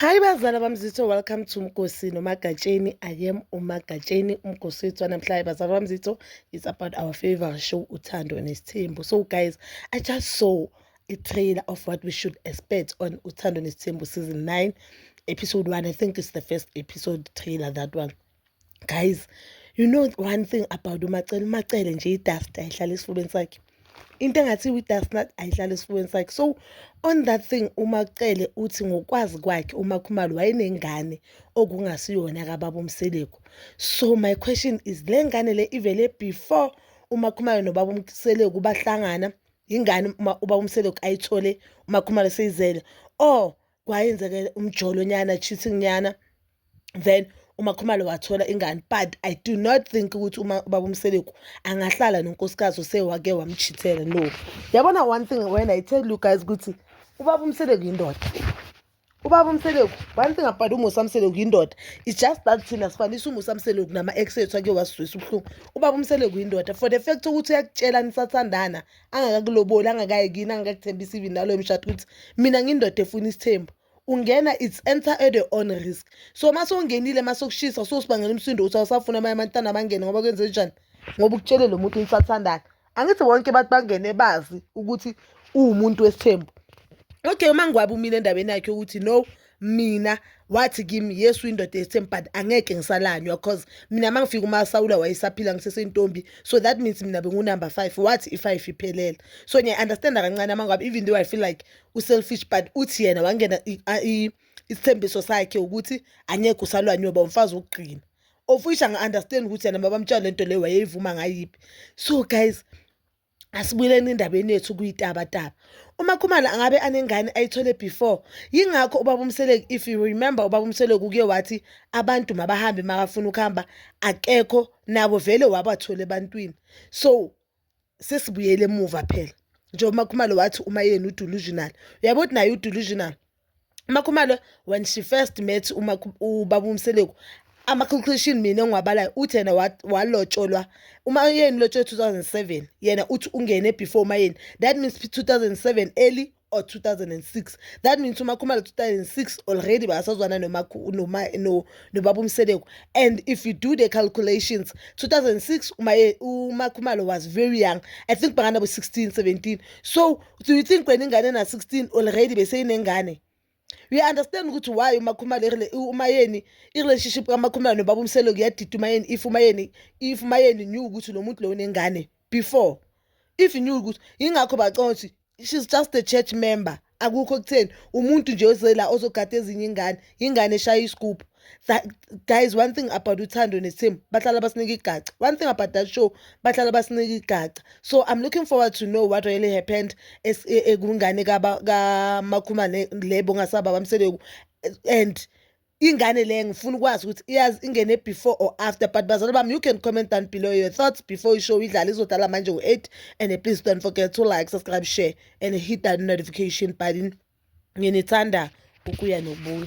Hi bazala bamzitho welcome to Mkosi noMagatsheni I am uMagatsheni uMkosi wethu namhlanje bazala bamzitho it's about our favorite show uthando nesithembu so guys I just saw a trailer of what we should expect on uthando nesithembu season 9 episode 1 I think it's the first episode trailer that one Guys, you know one thing about uMacele, uMacele nje i-dust ayihlala esifubeni sakhe. Into engathi i-dust nut ayihlala esifubeni sakhe. So on that thing uMacele uthi ngokwazi kwakhe uMakhumalo wayenengane okungasiyona kababa uMseleku. So my question is le ngane le ivele before uMakhumalo nobaba uMseleku bahlangana ingane uma uba umseleku ayithole umakhumalo seyizele or kwayenzeke umjolo nyana cheating nyana then umakhumalo wathola ingane but i do not think ukuthi uma ubaba umseleku angahlala nonkosikazi osewake wamchithela no yabona one thing when i tell you guys ukuthi ubaba umseleku yindoda ubaba umseleku one thing about umusa mseleku yindoda it's just that thina sifanisa umusa mseleku nama-ex ethu ake wasizwisa ubuhlungu ubaba umseleku yindoda for the fact ukuthi uyakutshela nisathandana angakakuloboli angakayi kini angakakuthembisa even naloyo mshado ukuthi mina ngindoda efuna isithembu ungena it's enter at your own risk so uma sowungenile uma sokushisa sosibangela umsindo ukuthi awusafuna abanye abantwana bangene ngoba kwenze njani ngoba ukutshele lo muntu nisathandana angithi bonke abantu bangene bazi ukuthi uwumuntu wesithembu okay uma ngiwabe umile endabeni yakhe ukuthi no mina wathi kimi yesu indoda ethemb but angeke ngisalanywa cause mina uma ngifika umasawula wayesaphila ngisesentombi so that means mina bengunumber five wathi i-five iphelele so ngiya-understanda kancane amangabe even though i feel like u-selfish but uthi yena wangena isithembiso sakhe ukuthi angeke usalwanywe uba umfazi wokugcina ofisha ngi-understand ukuthi yena babamtshela le nto leyo wayeyivuma ngayiphi so guys Asibuyeleni endabeni yethu kuyitabataba. UMakhumalo angabe anengane ayithole before. Yingakho uBaba uMseleku if you remember uBaba uMseleku kuye wathi abantu mabahambe makafuna ukuhamba akekho nabo vele wabathola ebantwini. So sesibuyele emuva phela. Njengoba uMakhumalo wathi uma yena udelusional. Uyabo ukuthi naye udelusional. umakhumalo when she first met ubaba umseleku ama-calculation mina engiwabalayo uthi yena walotsholwa uma yeni lotsholwe 2007 yena uthi ungene before umayeni that means 2007 early or 2006 that means umakhumalo 2006 already basazwana nobaba umseleku and if you do the calculations 2006 umakhumalo was very young i think banganabo 16 17 so do you think wena ingane na-16 already beseyinengane you understand ukuthi why umakhumalo umayeni i-relationship kamakhumalo nobaba umselo kuyadida umayeni if umayeni if umayeni knew ukuthi lo muntu lo unengane before if knew ukuthi yingakho baconsi she's just a church member akukho kutheni umuntu nje ozela ozogada ezinye ingane ingane eshaya isigubhu guys one thing about uthando nesithembu bahlala basinika igaca one thing about that show bahlala basinika igaca so i'm looking forward to know what really happened ekungane kamakhuma lebo ngasaba bamseleku and ingane le ngifuna ukwazi ukuthi iyazi ingene before or after but bazali bami you can comment down below your thoughts before ishow idlala izodlala manje ngo-eight and please don't forget to like subscribe share and hit that notification button nginithanda ukuya nobuya